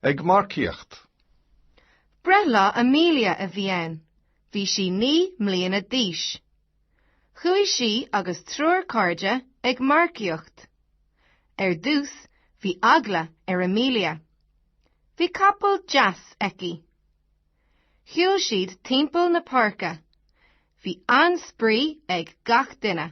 Ag marcaíocht. Breithlá Amelia a bhí ann. Bhí sí naoi mbliana d'aois. Chuaigh sí agus triúr cairde ag marcaíocht. Ar dtús, bhí eagla ar Amelia. Bhí capall deas aici. Shiúil siad timpeall na páirce. Bhí an-spraoi ag gach duine.